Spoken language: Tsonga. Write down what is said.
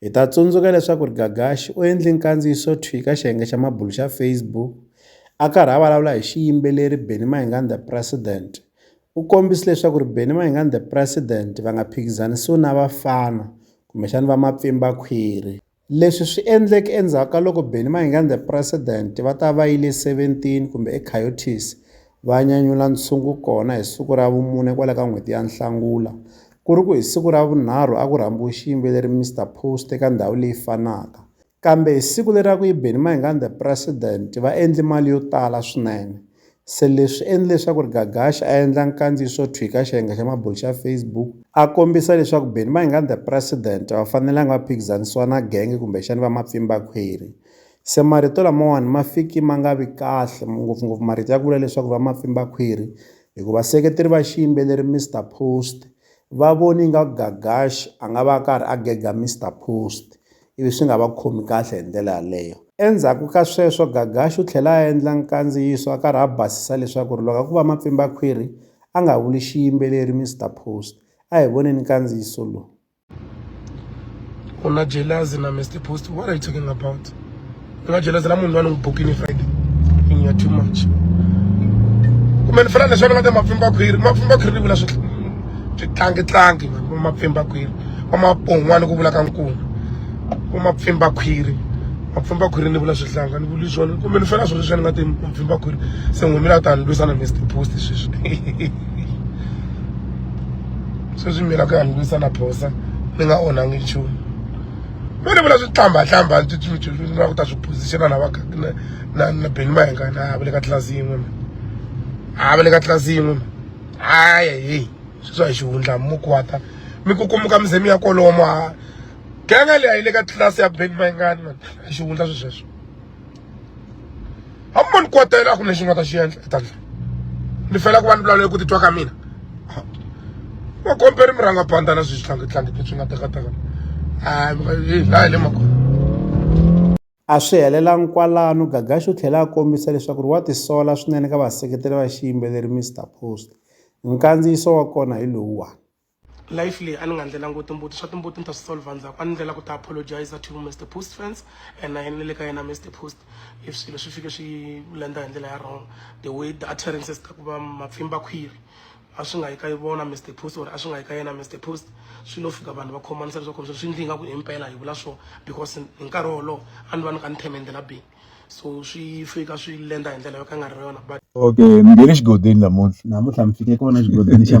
Hi ta tsundzuka leswaku ri Gagashi u endle nkandziyiso thwi ka xiyenge xa mabulu xa Facebook a karhi a vulavula hi xiyimbeleri Benny Mayengani The President. U kombise leswaku ri Benny Mayengani The President va nga phikizanisiwi na vafana kumbexana va mapfimbakhwiri. Leswi swi endleke endzhaku ka loko Benny Mayengani The President va ta va yile 17 kumbe eCoyotes va nyanyula ntshungu kona hi siku ra vumune kwala ka n'hweti ya Nhlangula ku ri ku hi siku ra vunharhu a ku rhambiwe xiyimbeleri Mister Post eka ndhawu leyi fanaka kambe hi siku leri a ku yi Benny Mayengani the president va endli mali yo tala swinene se leswi endle leswaku ri Gagash a endla nkandziyiso thwi ka xiyenga xa mabulo xa Facebook a kombisa leswaku Benny Mayengani the president a va fanelanga va phikizanisiwa na genge kumbexani va mapfimba khwiri se marito lamawani ma fiki ma nga vi kahle ngopfungopfu marito ya ku vula leswaku va mapfimbakhwiri hi ku vaseketeri va xiyimbeleri Mister Post va voni nga Gagash a nga va a karhi a gega Mister Post ivi swi nga va khomi kahle hi ndlela yaleyo endzhaku ka sweswo Gagash u tlhela a endla nkandziyiso a karhi a basisa leswaku ri loko a ku va mapfimbakhwiri a nga vuli xiyimbeleri Mister Post a hi voneni nkandziyiso lowu u na jealousy na Mister Post what are you talking about u nga jealousy na munhu loyi a ni n'wi bukini Friday in your too much kumbe ni fana leswi va nga mapfimba khwiri mapfimba khwiri ni vula swi swi tlangi tlangi mani mapfimba khwiri va mapon'wana ku vula ka nkuma ku mapfimba khwiri mapfimba khwiri ni vula swihlanga ni vuli swona kumbe ni fana swilo leswi ni nga ti mapfimba khwiri se n'wimila u ta ni lwisana Mister Post sweswi sweswi mina ku ya ni lwisa na phosa ni nga onhangi nchumu me ni vula swi tlhambatlhamba na ku ta swi position na va na na beni mayenga na va le ka tlilasi yin'we mi a va le ka tlilasi yin'we mi aya heyi sweswi a hi xihundla mukwata mi kukumuka mi ze mi ya kolomo a ganga leyi a yi le ka tlilasi ya beni mayengani mani a xihundla swi sweswo a mi ni kotela a ku lexi nga ta xi endla ta ndla ni fela ku va ni vulavula ku titwa ka mina va komperi mi rhanga pandza na sweswi tlangitlangi leswi nga tekateka a mi nga hi laha hi le makona a swi helelangi kwalano gagaxi u tlhela a kombisa leswaku ri wa tisola swinene ka vaseketeri va xiyimbeleri mr post nkandziyiso wa kona hi lowuwani life leyi a ni nga ndlela ngo timbuti swa timbuti ni ta swi solver ndzhaku a ni ndlela ku ta apologize to Mr Post fans and na yena ni le ka yena Mr Post if swilo swi fike swi lenda hi ndlela ya wrong the way the utterances ta ku va mapfimba khwiri a swi nga yi ka vona Mr Post or a swi nga yi ka yena Mr Post swi lo fika vanhu va khomanisa leswaku swi ndli nga ku himpela hi vula swo because hi nkarhi wolowo a ni va ni ka ni theme ndlela bihi so swi fika swi lenda hi ndlela yo ka nga ri yona but okay mi nghene xigodini namuntlha namuntlha mi fike kona xigodini xa